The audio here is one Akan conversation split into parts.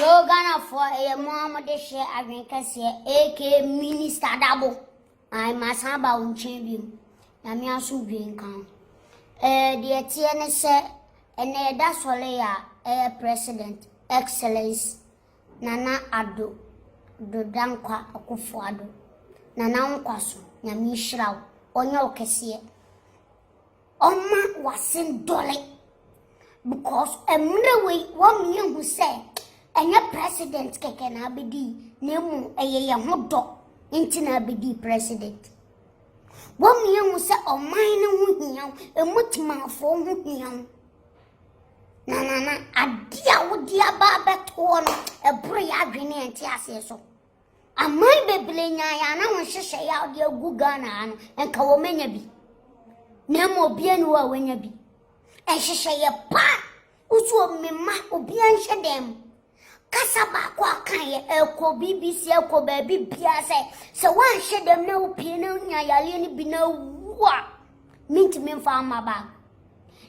Yoo Ghanafoɔ ɛyɛ mo a mode hyɛ adwene kɛseɛ aka Minister Dabo ae masan ba wo nkyɛn biom Nyame asomdwoe nka ho eh, deɛ ɛteɛ ne sɛ ɛnɛ yɛda sɔle a ɛyɛ President Excellence Nana Addo Do Dankwa Akufo Addo Nana wo nkwa so Nyame nhyira wo ɔnyɛ wo kɛseɛ Ɔma w'asen dɔle because mmerɛ wei wɔn yɛ hu sɛ ɛnyɛ president kɛkɛ na abɛdi na emu ɛyɛ yɛ ho dɔ nti na abɛdi president. Wɔn yɛ hu sɛ ɔman no ho hia emu timanfoɔ ho hia na nana adeɛ a wode aba abɛtoɔ no ɛboro yɛ adwene ɛnte aseɛ so. Aman bebree nyaa yɛ ana wɔn hyehyɛ yɛ a wɔde agu Ghana ha no, nka wɔn anya bi. Na mmom obiara ni hɔ a wanya bi. Ɛhyehyɛ yɛ paa. Wosi wɔ mmema, obiara nhyɛ dan mu. Kasa baako a kan yɛ ɛkɔ BBC ɛkɔ baabi biara sɛ sɛ woanhyɛ dan mu na wopie na wonya yareɛ no bi na awu a, mentumi mfa ama baa.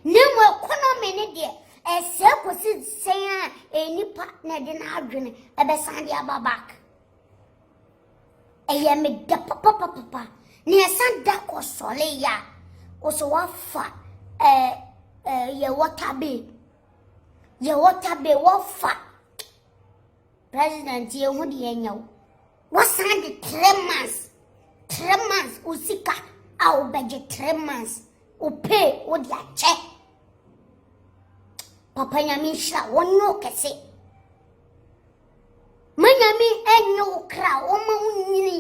Na mmom economy no deɛ ɛsɛe kɔsi sɛn a nnipa na ɛde n'adwene ɛbɛsan de aba back ɛyɛ me dɛ papapapapa na yɛsan da kɔ sɔle yɛ a wɔsɛ wafa ɛɛ ɛɛ yɛ water bay yɛ water bay wafa. President yɛ ho deɛ nyɛ wo. Wasan de three months three months wo sika a wobɛgye three months wo pay wo de akyɛ. Papa nyame nhyira wɔnyɛ wo kɛse. Ma nyame ɛnyɛ wo kra wɔma wo nyini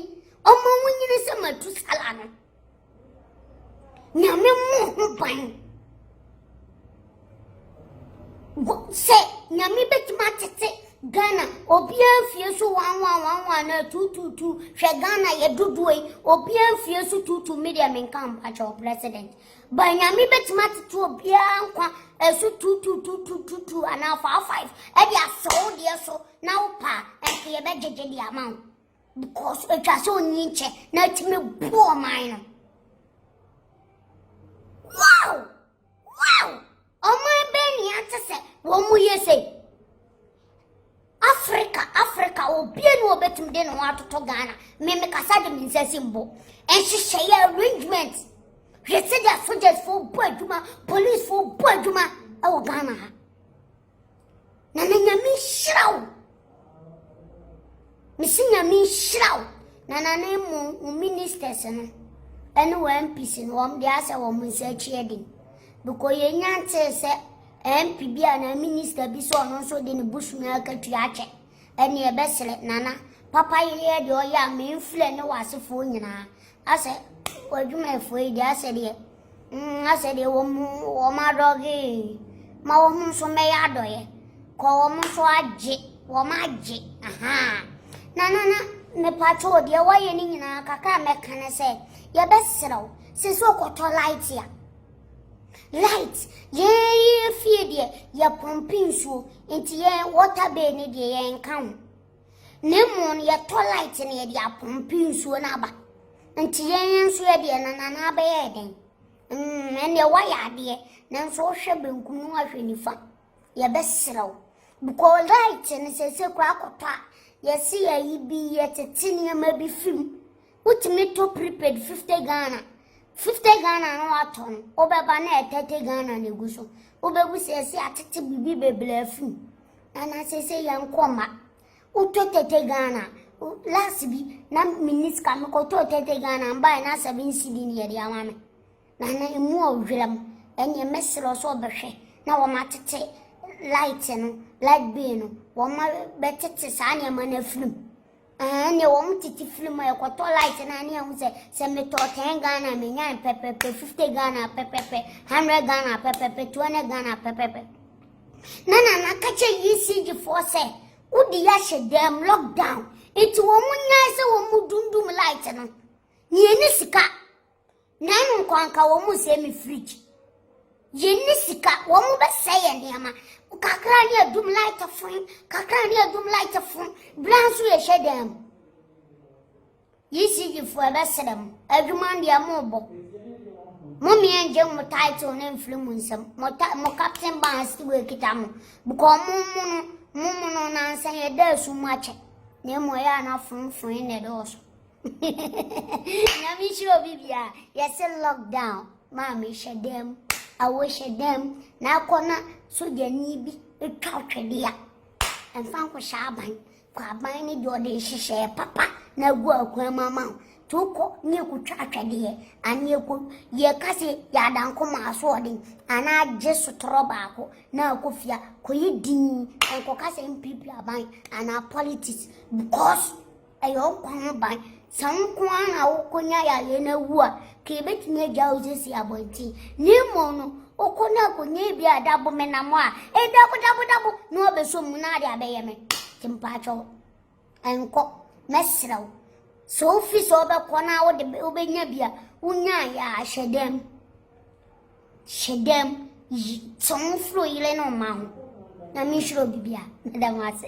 wɔma wo nyini sɛ matu sala no. Nyame mmɔ ho ban. Sɛ Nyame bɛtumi atete Ghana obiara fie so wanwa wanwa na tututu hwɛ Ghana yɛ dodoɔ yi obiara fie so tutu mi deɛ menka mpakyɛ wɔ president ba Nyame bɛtumi atete obiara nkwa ɛso tutututututu anaa faa five ɛde asɔw deɛ so na wopa ɛnso yɛbɛgyegye deɛ ama wo because atwa sɛ ɔnyi nkyɛ na atumi bu ɔman no wow wow ɔman bɛn ne ate sɛ wɔn mu yɛ sɛ africa africa obie ne wɔbɛtumi de ne ho atoto ghana me mekasa de me nsa si mbo nhyehyɛeɛ arrangement hwɛ sɛdeɛ sogyasfoɔ bɔ adwuma policefoɔ bɔ adwuma ɛwɔ ghana ha Na na nyame nhyira wo mesi nyame nhyira wo na na ne mo wo ministers no ɛne wɔ mps no wɔn de asɛ wɔn nsa akyi ɛden bikɔ yɛn nya ntee sɛ mp bi a na minister bi sɛ ɔno nso de ne busumi akatua akyɛ ɛne ɛbɛsrɛ nana papa yɛyɛ deɛ ɔyɛ a menfrɛ ne wɔ asefoɔ nyinaa Asɛ w'adwumayɛfoɔ yi deɛ asɛ deɛ mm, asɛ deɛ wɔn mu wɔn adɔgee ma wɔn nso mmɛyɛ adɔyɛ kɔ wɔn nso agye wɔn agye ahaa na na na mepatwo deɛ wɔyɛ ne nyinaa kakra a mɛka ne sɛ yɛbɛserɛw sɛ sɛ ɔkɔtɔ light a light yɛyɛ fie deɛ yɛpɔmpe nsuo nti yɛn water bay ne deɛ yɛnka ho Na mmom yɛtɔ light na yɛde apompe nsuo no aba. Nti yɛn nso yɛdeɛ na nana abɛyɛ dɛn? Mm, ɛnneɛ woayɛ adeɛ, nanso wohwɛ benkum no ahwɛ nifa. Yɛbɛserɛ wo. Bukɔ light no sɛsɛ kura akɔtɔ a, yɛse yɛyi bi yɛtete nneɛma bi fim. Wotumi tɔ prepaid fifty Ghana. Fifty Ghana no watɔ no, wobɛba na yɛ thirty Ghana na egu so. Wobɛbu sɛ ɛsɛ atete biribi bebree afi mu. Nana sese yɛn nkɔ mma. Wotɔ thirty Ghana. Last bi na minni sika mekɔtɔɔ thirty Ghana mbae na seven cedi ne yɛde ama me. Nana emu ɔwura mu. Ɛnneɛ mɛsrɛ wo sɛ ɔbɛhwɛ na wɔn atete light no, light bill no, wɔn bɛtete saa nneɛma no afiri mu. Ɛhɛn deɛ wɔn tete firi mu ɛkɔtɔ light na ne ɛho sɛ sɛ metɔ ten Ghana menyan pɛpɛpɛ fifty Ghana pɛpɛpɛ hundred Ghana pɛpɛpɛ two hundred Ghana pɛpɛpɛ na nana kakyɛ ECG foɔ sɛ wodi yɛahyɛ dɛm lockdown nti wɔn nyae sɛ wɔn dundum light no nea ɛne sika. na ɛno nko anka wɔn mu sɛ me fridge yɛn ne sika wɔn mu bɛsɛ yɛn nneɛma kakra ne adum light fon kakra ne adum light fon bra nso yɛhyɛ dan mu yisidifoɔ ɛbɛsrɛ mo adwuma deɛ mo bɔ mo mmea ngye mo title ne mfiri mo nsɛm mo ta mo captain ban si wɔ ekita mo bukɔ mo mo no mo mo no nansa yɛ dɛ esu mo akyɛ na emu ɛyɛ anafonfon na ɛdɔɔso. Nyame nhyira obi bia yɛse lockdown maame hyɛ dɛm awo hyɛ dɛm na akɔ na sogyani bi twa twɛde a ɛmfa nkɔhyɛ aban kɔ aban ne deɛ ɔde nhyehyɛɛ papa na agu akwan mu ama wo nti wokɔ ne ɛkɔtwa atwɛdeɛ ane ɛkɔ yɛka sɛ yɛada nkoma asoɔden anaa gye sotorɔ baako na akɔ fia kɔyɛ din nkɔka sɛ mpiripiri aban anaa politics because Ɛyɛ wo nkwa ho ban. Sɛ wo nko ara na wokɔnya yareɛ no awu a, ka yɛbɛtumi agya wo sisi abɔnten. Na mmom no, wokɔ na akɔnya ebi a ɛda bomenam a ɛdabodabodabo na wabɛsɔ mu na ade abɛyɛ me. Nti mpakyɛ wo, nkɔ. Mɛsrɛ wo. Sɛ wofi sɛ wobɛkɔ na wode wobɛnya bi a, wonyaeɛ a hyɛ dɛm. Hyɛ dɛm. Yi, tɔn firi yere no mma ho. Na menhyira obi bia. Meda mo ase.